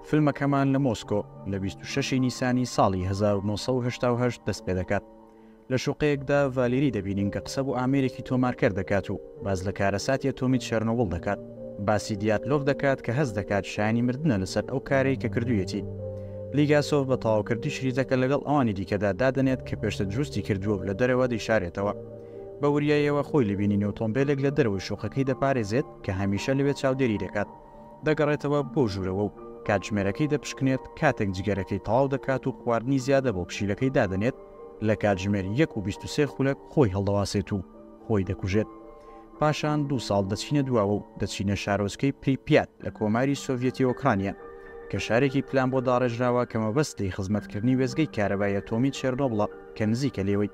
فیلمەکەمان لە مۆسکۆ لە بیست و شەش ی نیسانی ساڵی هەزار و نۆ سەد و هەشتا و هەشت دەست پێ دەکات. لە شوقەیەکدا ڤالێری دەبینین کە قسە بۆ ئامێرێکی تۆمارکەر دەکات و باس لە کارەساتی ئەتۆمی چێرنۆبڵ دەکات. باسی دیاتلۆڤ دەکات کە هەست دەکات شایەنی مردنە لەسەر ئەو کارەی کە کردوویەتی. لیگاسۆڤ بە تەواوکردنی شریتەکە لەگەڵ ئەوانی دیکەدا دادەنێت کە پێشتر دروستی کردووە و لە دەرەوە دەیشارێتەوە. بە وریاییەوە خۆی لە بینینی ئۆتۆمبێلێک لە دەرەوەی شوقەکەی دەپارێزێت کە هەمیشە لەوێ چاودێری دەکات. دەگەڕێتەوە بۆ ژوورەوە و کاتژمێرەکەی دەپشکنێت، کاتێک جگەرەکەی تەواو دەکات و خواردنی زیادە بۆ پشیلەکەی دادەنێت، لە کاتژمێر یەک و بیست و سێ خولەک خۆی هەڵدەواسێت و خۆی دەکوژێت. پاشان دوو ساڵ دەچینە دواوە و دەچینە شارۆچکەی پریپیات لە کۆماری سۆڤیەتی ئۆکرانیا، کە شارێکی پلان بۆ داڕێژراوە کە مەبەست لێی خزمەتکردنی وێستگەی کارەبای ئەتۆمی چێرنۆبڵە کە نزیکە لێوەی.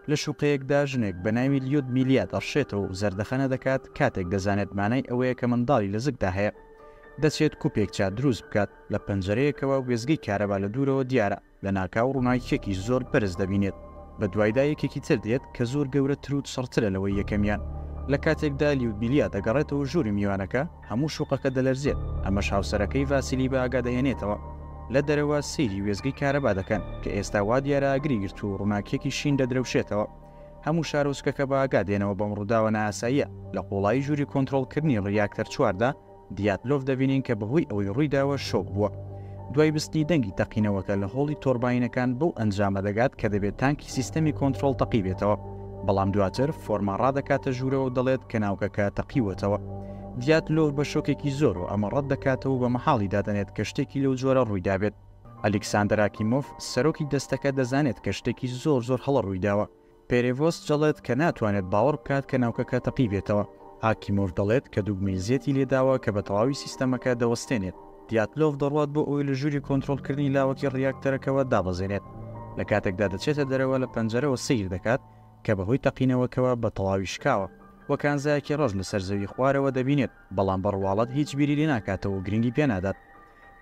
لە شوقەیەکدا ژنێک بە ناوی لیودمیلیا دەڕشێتەوە و زەردەخەنە دەکات، کاتێک دەزانێت مانای ئەوەیە کە منداڵی لە زگدا هەیە، دەچێت کوپێک چا دروست بکات، لە پەنجەرەیەکەوە وێستگەی کارەبا لە دوورەوە دیارە، لەناکاو ڕووناکییەکی زۆر بەرز دەبینێت، بەدوایدا یەکێکی تر دێت کە زۆر گەورەتر و چڕترە لەوەی یەکەمیان، لە کاتێکدا لیودمیلیا دەگەڕێتەوە ژووری میوانەکە، هەموو شوقەکە دەلەرزێت، ئەمەش هاوسەرەکەی ڤاسیلی بە ئاگا دەهێنێتەوە. لە دەرەوە سەیری وێستگەی کارەبا دەکەن، کە ئێستا وا دیارە ئاگری گرتووە و ڕووناکییەکی شین دەدرەوشێتەوە. هەموو شارۆچکەکە بە ئاگا دێنەوە بەم ڕووداوە نائاساییە. لە قوڵایی ژووری کۆنترۆڵکردنی ڕیاکتەر چوار دا، دیاتلۆڤ دەبینین کە بەهۆی ئەوەی ڕوویداوە شۆک بووە. دوای بیستنی دەنگی تەقینەوەکە لە هۆڵی تۆرباینەکان بەو ئەنجامە دەگات کە دەبێت تانکی سیستەمی کۆنترۆڵ تەقیبێتەوە. بەڵام دواتر فۆرما ڕادەکاتە ژوورەوە و دەڵێت کە ناوکەکە تەقیوەتەوە. دیاتلۆڤ بە شۆکێکی زۆر و ئەمە ڕەت دەکاتەوە و بە مەحاڵی دادەنێت کە شتێکی لەو جۆرە ڕوویدابێت. ئەلیکساندەر ئاکیمۆف، سەرۆکی دەستەکە دەزانێت کە شتێکی زۆر زۆر هەڵە ڕوویداوە. پێرێڤۆست جەڵێت کە ناتوانێت باوەڕ بکات کە ناوکەکە تەقیبێتەوە. ئاکیمۆف دەڵێت کە دوگمەی زێتی لێداوە کە بە تەواوی سیستەمەکە دەوەستێنێت. دیاتلۆڤ دەڕوات بۆ ئەوەی لە ژووری کۆنترۆڵکردنی لاوەکی ڕیاکتەرەکەوە دابەزێنێت، لە کاتێکدا دەچێتە دەرەوە لە پەنجەرەوە سەیر دەکات کە بەهۆی تەقینەوەکەوە بە تەواوی شکاوە و کانزایەکی ڕەش لەسەر زەوی خوارەوە دەبینێت بەڵام بە ڕواڵەت هیچ بیری لێناکاتەوە و گرنگی پێنادات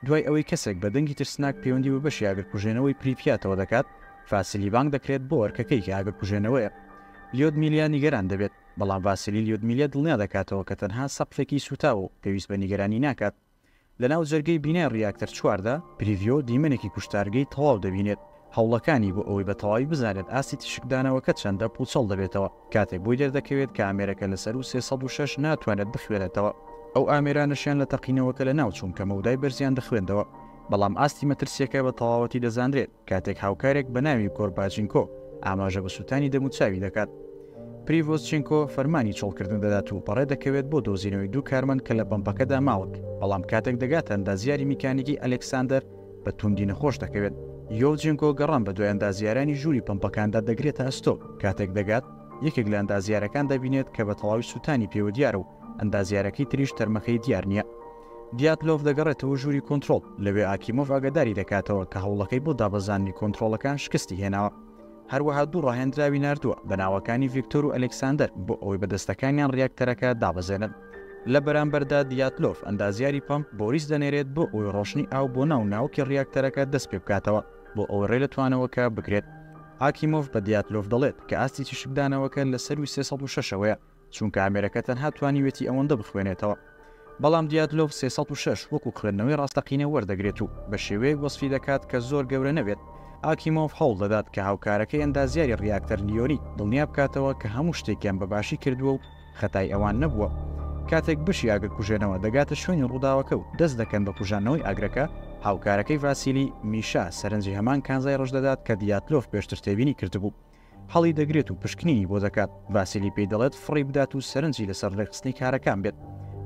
دوای ئەوەی کەسێک بە دەنگی ترسناک پەیوەندی بە بەشی ئاگرکوژێنەوەی پریپیاتەوە دەکات فاسیلی بانگ دەکرێت بۆ ئەرکەکەی کە ئاگرکوژێنەوەیە لیۆدمیلیا نیگەران دەبێت بەڵام ڤاسیلی لیۆدمیلیا دڵنیا دەکاتەوە کە تەنها سەقفێکی سووتاوە و پێویست بە نیگەرانی ناکات. لەناو جەرگەی بینای ڕیاکتەر چوار دا، پریڤیۆ دیمەنێکی کوشتارگەی تەواو دەبینێت، هەوڵەکانی بۆ ئەوەی بە تەواوی بزانێت ئاستی تیشکدانەوەکە چەندە، پووچەڵ دەبێتەوە، کاتێک بۆی دەردەکەوێت کە ئامێرەکە لە سەروو سێ سەد و شەش ناتوانێت بخوێنێتەوە، ئەو ئامێرانەشیان لە تەقینەوەکە لەناو چوون کە مەودای بەرزیان دەخوێندەوە، بەڵام ئاستی مەترسییەکە بە تەواوەتی دەزانرێت. کاتێک هاوکارێک بە ناوی کۆرباچینکۆ ئاماژە بە سووتانی دەموچاوی دەکات، پریڤۆزچینکۆ فەرمانی چۆڵکردن دەدات و بەڕێ دەکەوێت بۆ دۆزینەوەی دوو کارمەند کە لە پەمپەکەدا ماونک، بەڵام کاتێک دەگاتە ئەندازیاری میکانیکی ئەلێکساندەر بە تووندی نەخۆش دەکەوێت. یۆڤجینکۆ گەڕان بە دوای ئەندازیارانی ژووری پەمپەکاندا دەگرێتە ئەستۆ، کاتێک دەگات یەکێک لە ئەندازیارەکان دەبینێت کە بە تەواوی سووتانی پێوە دیارە و ئەندازیارەکەی تریش تەرمەکەی دیار نییە. دیاتلۆڤ دەگەڕێتەوە ژووری کۆنترۆڵ، لەوێ ئاکیمۆڤ ئاگاداری دەکاتەوە کە هەوڵەکەی بۆ دابەزاندنی کۆنترۆڵەکان شکستی هێناوە. هەروەها دوو ڕاهێنراوی ناردووە بە ناوەکانی ڤیکتۆر و ئەلێکساندەر بۆ ئەوەی بەدەستەکانیان ڕیاکتەرەکە دابەزێنن. لە بەرامبەردا دیاتلۆڤ ئەندازیاری پەمپ بۆریس دەنێرێت بۆ ئەوەی ڕۆشتنی ئاو بۆ ناو ناوکی ڕیاکتەرەکە دەست پێ بکاتەوە بۆ ئەوەی ڕێ لە توانەوەکە بگرێت. ئاکیمۆڤ بە دیاتلۆڤ دەڵێت کە ئاستی تیشکدانەوەکە لە سەرووی سێ سەد و شەش ەوەیە. چونکە ئامێرەکە تەنها توانیوێتی ئەوەندە بخوێنێتەوە. بەڵام دیاتلۆڤ سێ سەد و شەش وەکو خوێندنەوەی ڕاستەقینە وەردەگرێت و بە شێوەیەک وەسفی دەکات کە زۆر گەورە نەبێت. ئاکیمۆڤ هەوڵ دەدات کە هاوکارەکەی ئەندازیاری ڕیاکتەر لیۆنی دڵنیا بکاتەوە کە هەموو شتێکیان بە باشی کردووە و خەتای ئەوان نەبووە. کاتێک بەشی ئاگرکوژێنەوە دەگاتە شوێنی ڕووداوەکە و دەست دەکەن بە کوژاندنەوەی ئاگرەکە، هاوکارەکەی ڤاسیلی، میشا، سەرنجی هەمان کانزای ڕژدەدات کە دیاتلۆڤ پێشتر تێبینی کردبوو. هەڵی دەگرێت و پشکنینی بۆ دەکات، ڤاسیلی پێی دەڵێت فڕی بدات و سەرنجی لەسەر ڕێکخستنی کارەکان بێت.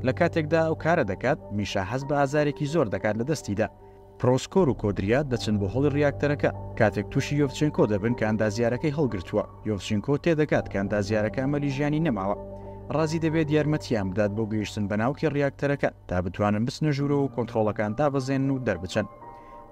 لە کاتێکدا ئەو کارە دەکات، میشا هەست بە ئازارێکی زۆر دەکات لە دەستیدا. پرۆسکۆر و کۆدریا دەچن بۆ هۆڵی ڕیاکتەرەکە، کاتێک تووشی یۆڤچێنکۆ دەبن کە ئەندازیارەکەی هەڵگرتووە، یۆڤچینکۆ تێدەگات کە ئەندازیارەکە ئەمەلی ژیانی نەماوە، ڕازی دەبێت یارمەتییان بدات بۆ گەیشتن بە ناوکی ڕیاکتەرەکە تا بتوانن بچنە ژوورەوە و کۆنترۆڵەکان دابەزێنن و دەربچن.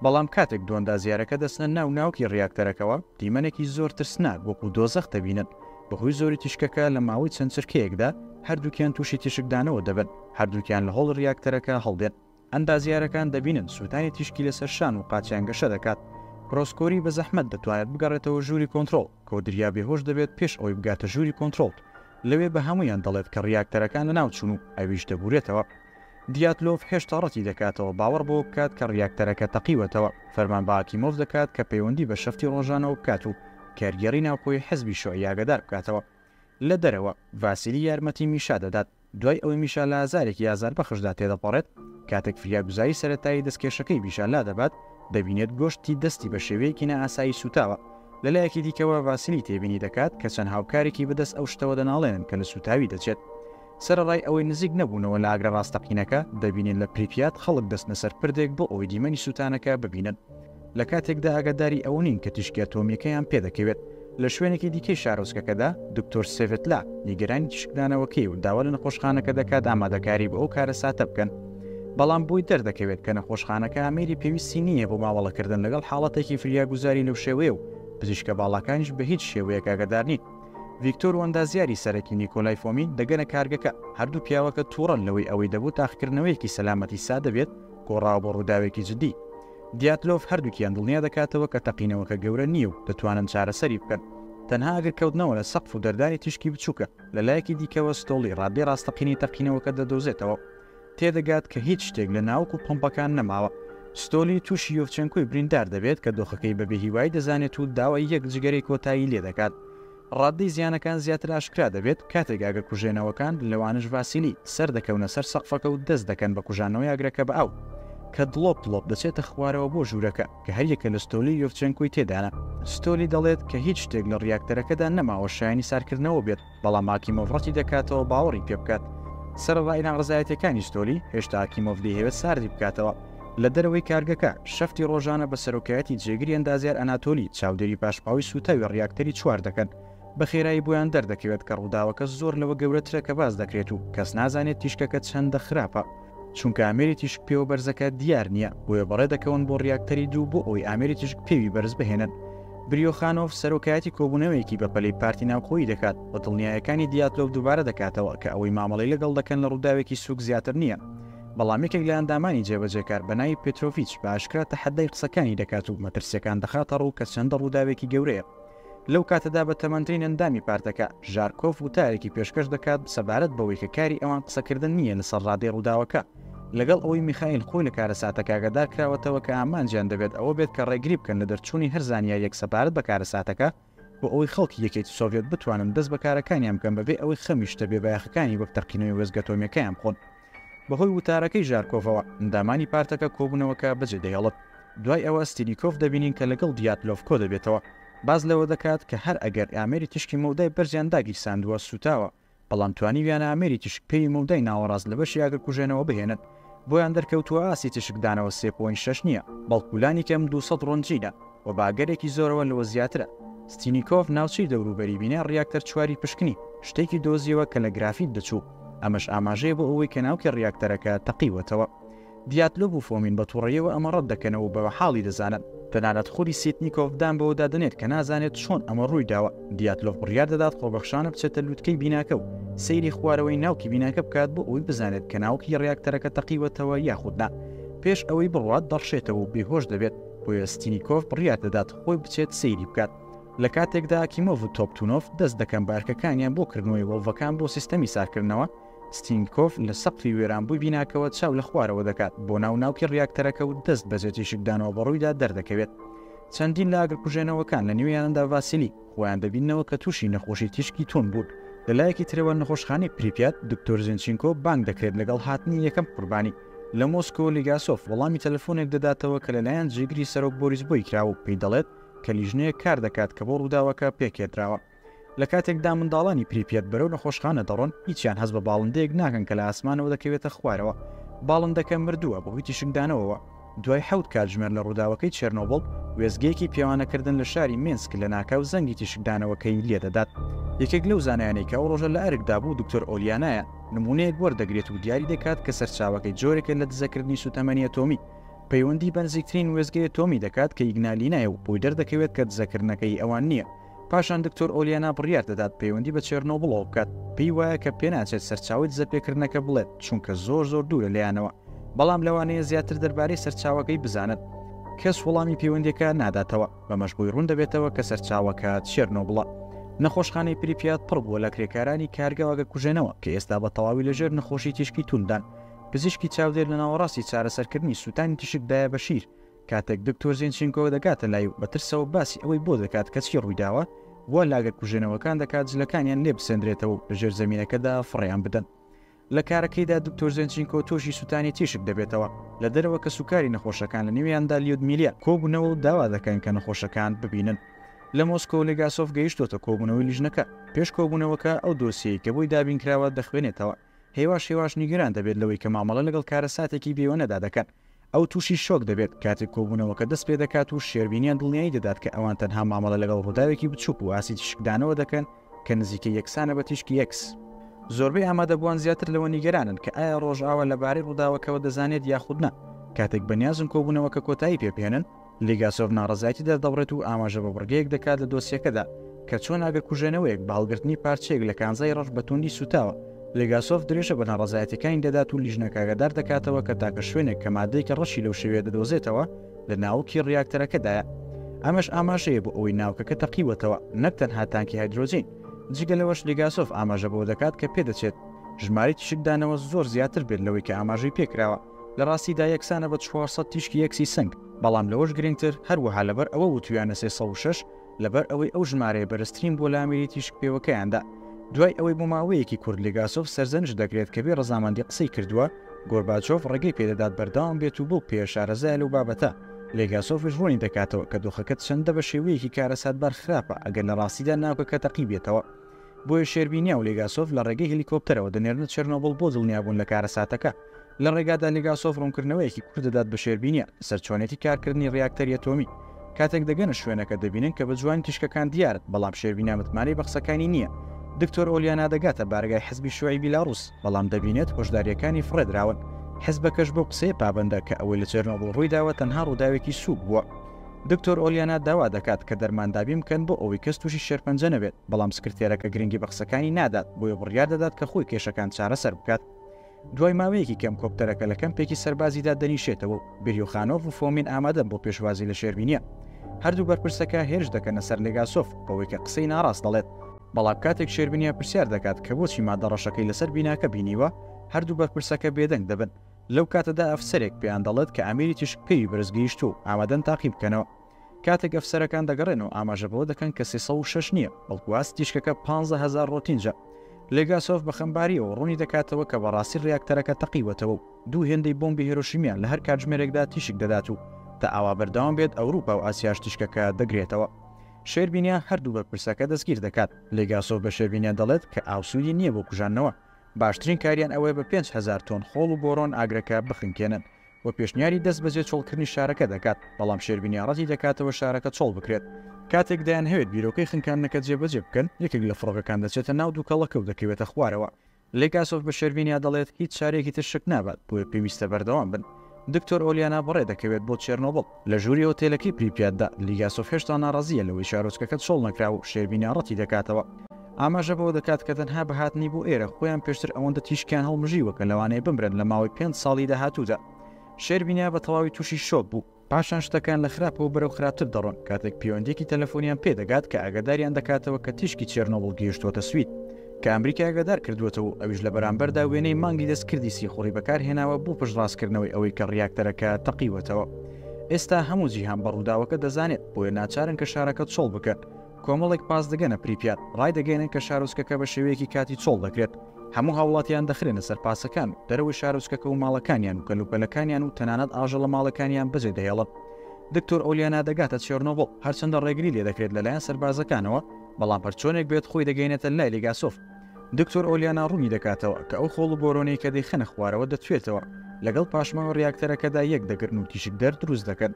بەڵام کاتێک دواندازیارەکە دەچنە ناو ناوکی ڕیاکتەرەکەوە، دیمەنێکی زۆر ترسناک وەکو دۆزەخ دەبینن، بەهۆی زۆری تیشکەکە لە ماوەی چەند چرکەیەکدا هەردووکیان تووشی تیشکدانەوە دەبن، هەردووکیان لە هۆڵ ڕیاکتەرەکە هەڵدێن، ئەندازیارەکان دەبینن سووتانی تیشکی لەسەر شان و قاچیان گەشە دەکات، ڕۆسکۆری بە زەحمەت دەتوانێت بگەڕێتەوە ژووری کۆنترۆڵ، کۆدریا بێهۆش دەبێت پێش ئەوەی بگاتە ژووری کۆنترۆڵ، لەوێ بە هەموویان دەڵێت کە ڕیاکتەرەکان لەناوچوون و ئەویش دەبورێتەوە. دیاتلۆڤ هێشتا ڕەتی دەکاتەوە باوەڕ بەوە بکات کە ڕیاکتەرەکە تەقیوەتەوە، فەرمان بە ئاکیمۆڤ دەکات کە پەیوەندی بە شەفتی ڕۆژانەوە بکات و کارگێڕی ناوخۆی حزبی شیوعی ئاگادار بکاتەوە. لە دەرەوە، ڤاسیلی یارمەتی میشا دەدات، دوای ئەوەی میشا لە ئازارێکی ئازاربەخشدا تێدەپەڕێت، کاتێک فریاگوزاری سەرەتایی دەستکێشەکەی میشا لادەبات، دەبینێت گۆشتی دەستی بە شێوەیەکی نائاسایی سووتاوە. لە لایەکی دیکەوە، ڤاسیلی تێبینی دەکات کە چەند هاوکارێکی بەدەست ئەو شتەوە دەناڵێنن کە لە سووتاوی دەچێت. سەرەڕای ئەوەی نزیک نەبوونەوە لە ئاگرە ڕاستەقینەکە، دەبینین لە پریپیات خەڵک دەچنە سەر پردێک بۆ ئەوەی دیمەنی سووتانەکە ببینن، لە کاتێکدا ئاگاداری ئەوە نین کە تیشکی ئەتۆمییەکەیان پێدەکەوێت. لە شوێنێکی دیکەی شارۆچکەکەدا، دکتۆر سێڤێتلا نیگەرانی تیشکدانەوەکەی و داوا لە نەخۆشخانەکە دەکات ئامادەکاری بۆ ئەو کارەساتە بکەن، بەڵام بۆی دەردەکەوێت کە نەخۆشخانەکە ئامێری پێویستی نییە بۆ مامەڵەکردن لەگەڵ حاڵەتێکی فریاگوزاری لەو شێوەیە و پزیشکە باڵاکانیش بە هیچ شێوەیەک ئاگادار نین. ڤیکتۆر وەندازیاری سەرەکی نیکۆلای فۆمین دەگەنە کارگەکە. هەردوو پیاوەکە تووڕەن لەوەی ئەوەی دەبوو تاقیکردنەوەیەکی سەلامەتی سادە بێت، گۆڕاوە بۆ ڕووداوێکی جددی. دیاتلۆف هەردووکیان دڵنیا دەکاتەوە کە تەقینەوەکە گەورە نییە و دەتوانن چارەسەری بکەن. تەنها ئەگەر کەوتنەوە لە سەقف و دەردانی تیشکی بچووکە. لەلایەکی دیکەوە ستۆڵی ڕادەی ڕاستەقینەی تەقینەوەکە دەدۆزێتەوە. تێدەگات کە هیچ شتێک لە ناوک و پۆمپەکان نەماوە. ستۆلی تووشی یۆڤچێنکۆی بریندار دەبێت کە دۆخەکەی بە بێهیوایی دەزانێت و داوای یەک جگەرەی کۆتایی لێ دەکات. ڕاددەی زیانەکان زیاتر ئاشکرا دەبێت کاتێک ئاگرکوژێنەوەکان، لەوانەش ڤاسیلی، سەر دەکەونە سەر سەقفەکە و دەست دەکەن بە کوژانەوەی ئاگرەکە بە ئاو کە دڵۆپ دڵۆپ دەچێتە خوارەوە بۆ ژوورەکە کە هەریەکە لە ستۆلی و یۆڤچێنکۆی تێدانە. ستۆلی دەڵێت کە هیچ شتێک لە ڕیاکتەرەکەدا نەماوە شایەنی ساردکردنەوە بێت. بەڵام ئاکیمۆڤ ڕەتی دەکاتەوە باوەڕی پێ بکات. سەرەڕای ناڕەزایەتییەکانی ستۆلی، هێشتا ئاکیمۆڤ دەیهەوێت ساردی بکاتەوە. لە دەرەوەی کارگەکە، شەفتی ڕۆژانە بە سەرۆکایەتی جێگری ئەندازیار ئەناتۆلی، چاودێری پاشماوەی سووتاوی ڕیاکتەری چوار دەکەن. بە خێرایی بۆیان دەردەکەوێت کە ڕووداوەکە زۆر لەوە گەورەترە کە باس دەکرێت و کەس نازانێت تیشکەکە چەندە خراپە. چونکە ئامێری تیشک پێوە بەرزەکە دیار نییە، بۆیە بەڕێ دەکەون بۆ ڕیاکتەری دوو بۆ ئەوەی ئامێری تیشک پێوی بەرز بهێنن. بریۆخانۆڤ سەرۆکایەتی کۆبوونەوەیەکی بەپەلەی پارتی ناوخۆیی دەکات و دڵنیایەکانی دیاتلۆڤ دووبارە دەکاتەوە کە ئەوەی مامەڵەی لەگەڵ دەکەن لە ڕووداوێکی سووک زیاتر نییە. بەڵام یەکێک لە ئەندامانی جێبەجێکار بە ناوی پێترۆڤیچ بە ئاشکرا تەحەدای قسەکانی دەکات و مەترسییەکان دەخاتە ڕوو کە چەندە ڕووداوێکی گەورەیە. لەو کاتەدا بە تەمەنترین ئەندامی پارتەکە، ژارکۆف وتارێکی پێشکەش دەکات سەبارەت بەوەی کە کاری ئەوان قسەکردن نییە لەسەر ڕادەی ڕووداوەکە، لەگەڵ ئەوەی میخائیل خۆی لە کارەساتەکە ئاگادار کراوەتەوە کە ئامانجیان دەبێت ئەوە بێت کە ڕێگری بکەن لە دەرچوونی هەر زانیارییەک سەبارەت بە کارەساتەکە بۆ ئەوەی خەڵکی یەکێتی سۆڤیەت بتوانن دەست بە کارەکانیان بکەن بەبێ ئەوەی خەمی شتە بێبایەخەکانی وەک تەقینەوەی وێستگە ئەتۆمییەکەیان بخۆن. بەهۆی وتارەکەی ژارکۆڤەوە، ئەندامانی پارتەکە کۆبوونەوەکە بەجێ دەهێڵن. دوای ئەوە ستیلیکۆف دەبینین کە لەگەڵ دیاتلۆف کۆدەبێتەوە. باس لەوە دەکات کە هەر ئەگەر ئامێری تیشکی مەودای بەرزیان داگیرساندووە سووتاوە، بەڵام توانیویانە ئامێری تیشک پێوی مەودای ناوەڕاست لە بەشی ئاگرکوژێنەوە بهێنن. بۆیان دەرکەوتووە ئاستی تیشکدانەوە سێ پۆینت شەش نییە، بەڵکو لانیکەم دوو سەد ڕۆنجینە. و بە ئەگەرێکی زۆرەوە لەوە زیاترە. ستینیکۆڤ ناوچەی دەوروبەری بینای ڕیاکتەر چواری پشکنی، شتێکی دۆزیەوە کە لە گرافیت دەچوو، ئەمەش ئاماژەیە بۆ ئەوەی کە ناوکی ڕیاکتەرەکە تەقیوەتەوە. دیاتلۆڤ و فۆمین بە توڕەیەوە ئەمە ڕەت دەکەنەوە و بە وەحاڵی دەزانن. تەنانەت خودی سیتنیکۆڤ دان بەوەدا دەنێت کە نازانێت چۆن ئەمە ڕووی داوە. دیاتلۆڤ بڕیار دەدات خۆبەخشانە بچێتە لووتکەی بیناکە و سەیری خوارەوەی ناوکی بیناکە بکات بۆ ئەوەی بزانێت کە ناوکی ڕیاکتەرەکە تەقیوەتەوە یاخود نا. پێش ئەوەی بڕوات دەڕشێتەوە و بێهۆش دەبێت. بۆیە ستینیکۆف بڕیار دەدات خۆی بچێت سەیری بکات لە کاتێکدا کیمۆڤ و تۆپتونۆف دەست دەکەن بارکەکانیان بۆ کردنەوەی وڵڤەکان بۆ سیستەمی سارکردنەوە ستینکۆف لە سەقفی وێرانبووی بیناکەوە چاو لە خوارەوە دەکات بۆ ناو ناوکی ڕیاکتەرەکە و دەست بەجێتی شکدانەوە بەڕوویدا دەردەکەوێت چەندین لە ئاگرکوژێنەوەکان لە نوێیاندا ڤاسیلی خۆیان دەبینەوە کە تووشی نەخۆشی تیشکی تون بوون لەلایەکی ترەوە نەخۆشخانەی پریپات دکتۆر زنچینکۆ بانگ دەکرێت لەگەڵ هاتنی یەکەم قوربانی لە مۆسکۆ لیگاسۆف وەڵامی تەلەفۆنێک دەداتەوە کە لەلایەن جێگری سەرۆک بۆریس بۆی کراوە و پێی دەڵێت کە لیژنەیەک کار دەکات کە بۆ ڕووداوەکە پێکهێدراوە. لە کاتێکدا منداڵانی پریپیەت بەرەو نەخۆشخانە دەڕۆن، هیچیان هەست بە باڵندەیەک ناکەن کە لە ئاسمانەوە دەکەوێتە خوارەوە. باڵندەکە مردووە بەهۆی تیشکدانەوەوە. دوای حەوت کاتژمێر لە ڕووداوەکەی چێرنۆبڵ، وێستگەیەکی پێوانەکردن لە شاری مینسک لەناکاو زەنگی تیشکدانەوەکەی لێدەدات. یەکێک لەو زانایانەی کە ئەو ڕۆژە لە ئەرکدا بوو دکتۆر ئۆلیانایە. نموونەیەک وەردەگرێت و دیاری دەکات کە سەرچاوەکەی جۆرێکە لە دزەکردنی سووتەمەنی ئەتۆمی، پەیوەندی بە نزیکترین وێستگەی ئەتۆمی دەکات کە ئیگنالینایە و بۆی دەردەکەوێت کە دزەکردنەکە هی ئەوان نییە، پاشان دکتۆر ئۆلیانا بڕیار دەدات پەیوەندی بە چێرنۆبڵەوە بکات، پێی وایە کە پێناچێت سەرچاوەی دزەپێکردنەکە بڵێت چونکە زۆر زۆر دوورە لێیانەوە، بەڵام لەوانەیە زیاتر دەربارەی سەرچاوەکەی بزانن. کەس وەڵامی پەیوەندییەکە ناداتەوە. بەمەش بۆی ڕوون دەبێتەوە کە سەرچاوەکە چێرنۆبڵە. نەخۆشخانەی پریپیات پڕ بووە لە کرێکارانی کارگە ئاگرکوژێنەوە کە ئێستا بە تەواوی لەژێر نەخۆشی تیشکی توونددان. پزیشکی چاودێر لە ناوەڕاستی چارەسەرکردنی سووتانی تیشکدایە بە شیر، کاتێک دکتۆر زینچینکۆ دەگاتە لای و بە ترسەوە باسی ئەوەی بۆ دەکات کە چی ڕوویداوە، وا لە ئاگرکوژێنەوەکان دەکات جلەکانیان لێبسەندرێتەوە و لە ژێرزەمینەکەدا فڕێیان بدەن. لە کارەکەیدا دکتۆر زێنچینکۆ تووشی سووتانی تیشک دەبێتەوە، لە دەرەوە کەسوکاری نەخۆشەکان لە نێویاندا لیودمیلیا کۆبوونەوە و داوا دەکەن کە نەخۆشەکان ببینن. لە مۆسکۆ لێگاسۆف گەیشتۆتە کۆبوونەوەی لیژنەکە، پێش کۆبوونەوەکە ئەو دۆسیەی کە بۆی دابینکراوە دەخوێنێتەوە، هێواش هێواش نیگەران دەبێت لەوەی کە مامەڵە لەگەڵ کارەساتێکی بێوێنەدا دەکەن، ئەو تووشی شۆک دەبێت کاتێک کۆبوونەوەکە دەست پێ دەکات و شێربینیان دڵنیایی دەدات کە ئەوان تەنها مامەڵە لەگەڵ ڕووداوێکی بچووک و ئاستی تیشکدانەوە دەکەن کە نزیکەی یەکسانە بە تیشکی ئێکس. زۆربەی ئامادەبووان زیاتر لەوە نیگەرانن کە ئایا ڕۆژئاوا لەبارەی ڕووداوەکەوە دەزانێت یاخود نا. کاتێک بەنیازن کۆبوونەوەکە کۆتایی پێ بهێنن، لیگاسۆڤ ناڕەزایەتی دەردەبڕێت و ئاماژە بە بڕگەیەک دەکات لە دۆسیەکەدا کە چۆن ئەگەر کوژێنەوەیەک بە هەڵگرتنی پارچەیەک لە کانزای ڕەش بە توندی سووتاوە، لیگاسۆڤ درێژە بە ناڕەزایەتییەکانی دەدات و لیژنەکە ئاگادار دەکاتەوە کە تاکە شوێنێک کە ماددەیەکی ڕەشی لەو شێوەیە دەدۆزێتەوە لە ناوکی ڕیاکتەرەکەدایە. ئەمەش ئاماژەیە بۆ ئەوەی ناوکەکە تەقیوەتەوە، نەک تەنها تانکی هایدرۆجین. جگە لەوەش، لیگاسۆڤ ئاماژە بەوە دەکات کە پێدەچێت ژمارەی تیشکدانەوە زۆر زیاتر بێت لەوەی کە ئاماژەی پێکراوە. لە ڕاستیدا یەکسانە بە چوار سەد تیشکی یەکسی سنگ، بەڵام لەوەش گرنگتر، هەروەها لەبەر ئەوە وتوویانە سێ سەد و شەش، لەبەر ئەوەی ئەو ژمارەیە بەرزترین بووە لە ئامێری تیشکپێوەکەیاندا. دوای ئەوەی بۆ ماوەیەکی کورت لێگاسۆڤ سەرزەنشت دەکرێت کە بێ ڕەزامەندی قسەی کردووە، گۆرباچۆڤ ڕێگەی پێ دەدات بەردەوام بێت و بەو پێیە شارەزایە لەو بابەتە. لێگاسۆڤیش ڕوونی دەکاتەوە کە دۆخەکە چەندە بە شێوەیەکی کارەساتبار خراپە ئەگەر لە ڕاستیدا ناوکەکە تەقیبێتەوە. بۆیە شێربینیا و لێگاسۆڤ لە ڕێگەی هێلیکۆپتەرەوە دەنێرنە چێرنۆبڵ بۆ دڵنیابوون لە کارەساتەکە. لە ڕێگادا لێگاسۆڤ ڕوونکردنەوەیەکی کورت دەدات بە شێربینیا لەسەر چۆنێتی کارکردنی ڕیاکتەری ئەتۆمی. کاتێک دەگەنە شوێنەکە دەبینن کە بە جوانی تیشکەکان دیارن، بەڵام شێربینیا متمانەی بە قسەکانی نییە. دکتۆر ئۆلیانا دەگاتە بارەگای حزبی شیوعی بیلاڕووس، بەڵام دەبینێت هۆشدارییەکانی فڕێدراون. حزبەکەش بەو قسەیە پابەندە کە ئەوەی لە چێرنۆبڵ ڕوویداوە تەنها ڕووداوێکی سووک بووە. دکتۆر ئۆلیانا داوا دەکات کە دەرمان دابین بکەن بۆ ئەوەی کەس تووشی شێرپەنجە نەبێت، بەڵام سکرتێرەکە گرنگی بە قسەکانی نادات، بۆیە بڕیار دەدات کە خۆی کێشەکان چارەسەر بکات. دوای ماوەیەکی کەم کۆپتەرەکە لە کەمپێکی سەربازی دادەنیشێتەوە و بریوخانۆڤ و فۆمین ئامادەن بۆ پێشوازی لە شێربینیە. هەردوو بەرپرسەکە هێرش دەکەنە سەر لێگاسۆف بەوەی کە قسەی ناڕاست دەڵێت، بەڵام کاتێک شێربینیە پرسیار دەکات کە بۆچی مادە ڕەشەکەی لەسەر بیناکە بینیوە، هەردوو بەرپرسەکە بێدەنگ دەبن. لەو کاتەدا ئەفسەرێک پێیان دەڵێت کە ئامێری تیشک پێوی بەرز گەیشتووە و ئامادەن تاقی بکەنەوە. کاتێک ئەفسەرەکان دەگەڕێنەوە ئاماژە بەوە دەکەن کە سێ سەد و شەش نییە، بەڵکو ئاستی تیشکەکە پانزە هەزار ڕۆتینجە. لێگاسۆف بە خەمبارییەوە ڕوونی دەکاتەوە کە بەڕاستی ڕیاکتەرەکە تەقیوەتەوە و دوو هێندەی بۆمبی هێرۆشیمیان لە هەر کاتژمێرێکدا تیشک دەدات و تا ئاوا بەردەوام بێت ئەوروپا و ئاسیاش تیشکەکە دەگرێتەوە. شێربینیا هەردوو بەرپرسەکە دەستگیر دەکات. لێگاسۆف بە شێربینیا دەڵێت کە ئاو سوودی نییە بۆ کوژاندنەوە، باشترین کاریان ئەوەیە بە پێنج هەزار تۆن خۆڵ و بۆرۆن ئاگرەکە بخنکێنن و پێشنیاری دەستبەجێ چۆڵکردنی شارەکە دەکات، بەڵام شێربینیا ڕەتی دەکاتەوە شارەکە چۆڵ بکرێت. کاتێک دەیانهەوێت بیرۆکەی خنکاندنەکە جێبەجێ بکەن، یەکێک لە فڕۆکەکان دەچێتە ناو دووکەڵەکە و دەکەوێتە خوارەوە. لێگاسۆڤ بە شێربینیا دەڵێت، هیچ شارێکی تر شک نابات، بۆیە پێویستە بەردەوام بن. دکتۆر ئۆلیانا بەڕێ دەکەوێت بۆ چێرنۆبڵ. لە ژووری ئۆتێلەکەی پریپیاتدا، لیگاسۆف هێشتا ناڕازییە لەوەی شارۆچکەکە چۆڵ نەکرا و شێربینیا ڕەتیدەکاتەوە. ئاماژە بەوە دەکات کە تەنها بە هاتنی بۆ ئێرە، خۆیان پێشتر ئەوەندە تیشکیان هەڵمژیوە کە لەوانەیە بمرن لە ماوەی پێنج ساڵی داهاتوودا. شێربینیا بە تەواوی تووشی شۆک بوو. پاشان شتەکان لە خراپەوە بەرەو خراپتر دەڕۆن کاتێک پێوەندییەکی تەلەفۆنیان پێدەگات کە ئاگاداریان دەکاتەوە کە تیشکی چێرنۆبڵ گەیشتووەتە سوید. کە ئەمریکا ئاگادار کردووەتەوە و ئەویش لە بەرامبەردا وێنەی مانگی دەستکردی سیخوڕی بەکارهێناوە بۆ پشتڕاستکردنەوەی ئەوەی کە ڕیاکتەرەکە تەقیوەتەوە. ئێستا هەموو جیهان بە ڕووداوەکە دەزانێت، بۆیە ناچارن کە شارەکە چۆڵ بکەن. کۆمەڵێک پاس دەگەنە پریپیات، ڕایدەگەیەنن کە شارۆچکەکە بە شێوەیەکی کاتی چۆڵ دەکرێت. هەموو هاوڵاتیان دەخرێنە سەر پاسەکان و دەرەوەی شارۆچکەکە و ماڵەکانیان و کەلوپەلەکانیان و تەنانەت ئاژەڵە ماڵەکانیان بەجێدەهێڵن. دکتۆر ئۆلیانا دەگاتە چێرنۆبڵ، هەرچەندە ڕێگری لێدەکرێت لەلایەن سەربازەکانەوە، بەڵام هەرچۆنێک بێت خۆی دەگەینێتە لای لیگاسۆف. دکتۆر ئۆلیانا ڕوونی دەکاتەوە کە ئەو خۆڵ و بۆرۆنەی کە دەیخەنە خوارەوە دەتوێتەوە، لەگەڵ پاشماوە ڕیاکتەرەکەدا یەک دەگرن و تیشکدەر دروست دەکەن.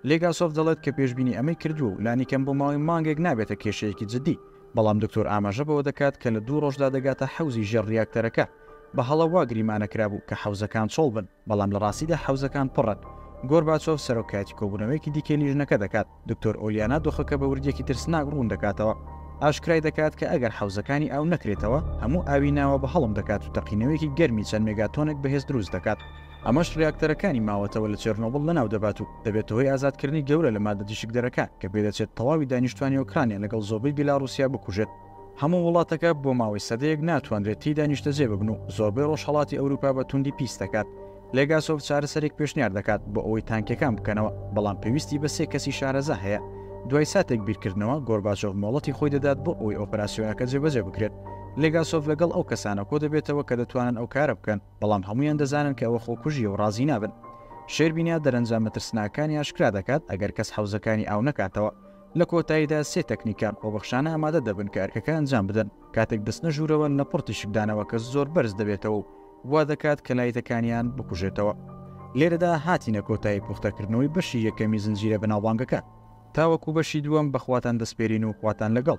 لیگاسۆف دەڵێت کە پێشبینی ئەمەی کردووە و لانیکەم بۆ ماوەی مانگێک نابێتە کێشەیەکی جددی، بەڵام دکتۆر ئاماژە بەوە دەکات کە لە دوو ڕۆژدا دەگاتە حەوزی ژێر ڕیاکتەرەکە. بە هەڵە وا گریمانە کرابوو کە حەوزەکان چۆڵ بن، بەڵام لە ڕاستیدا حەوزەکان پڕن. گۆرباچۆف سەرۆکایەتی کۆبوونەوەیەکی دیکەی لیژنەکە دەکات. دکتۆر ئۆلیانا دۆخەکە بە وردییەکی ترسناک ڕوون دەکاتەوە، ئاشکرای دەکات کە ئەگەر حەوزەکانی ئاو نەکرێتەوە، هەموو ئاوی ناوە بە هەڵم دەکات و تەقینەوەیەکی گەرمی چەند مێگاتۆنێک بەهێز دروست دەکات، ئەمەش ڕیاکتەرەکانی ماوەتەوە لە چێرنۆبڵ لەناو دەبات و دەبێتە هۆی ئازادکردنی گەورە لە ماددە تیشکدەرەکان کە پێدەچێت تەواوی دانیشتووانی ئۆکرانیا لەگەڵ زۆربەی بیلاڕوسیا بکوژێت. هەموو وڵاتەکە بۆ ماوەی سەدەیەک ناتوانرێت تێیدا نیشتەجێ ببن و زۆربەی ڕۆژهەڵاتی ئەوروپا بە توندی پیس دەکات. لێگاسۆڤ چارەسەرێک پێشنیار دەکات بۆ ئەوەی تانکیەکان بکەنەوە، بەڵام پێویستی بە سێ کەسی شارەزا هەیە. دوای ساتێک بیرکردنەوە، گۆرباچۆڤ مۆڵەتی خۆی دەدات بۆ ئەوەی ئۆپەراسیۆنەکە جێبەجێ بکرێت. لێگاسۆڤ لەگەڵ ئەو کەسانە کۆدەبێتەوە کە دەتوانن ئەو کارە بکەن، بەڵام هەموویان دەزانن کە ئەوە خۆکوژییە و ڕازی نابن. شێربینیا دەرەنجامە ترسناکەکانی ئاشکرا دەکات، ئەگەر کەس حەوزەکانی ئاو نەکاتەوە، لە کۆتاییدا سێ تەکنیکان خۆبەخشانە ئامادە دەبن کە ئەرکەکە ئەنجام بدەن کاتێک دەچنە ژوورەوە لە پڕ تیشکدانەوە کە زۆر بەرز دەبێتەوە و وا دەکات کە لایتەکانیان بکوژێتەوە. لێرەدا هاتینە کۆتایی پوختەکردنەوەی بەشی یەکەمی زنجیرە بەناوبانگەکە. تاوەکو بەشی دووەم بە خواتان دەسپێرین و خواتان لەگەڵ.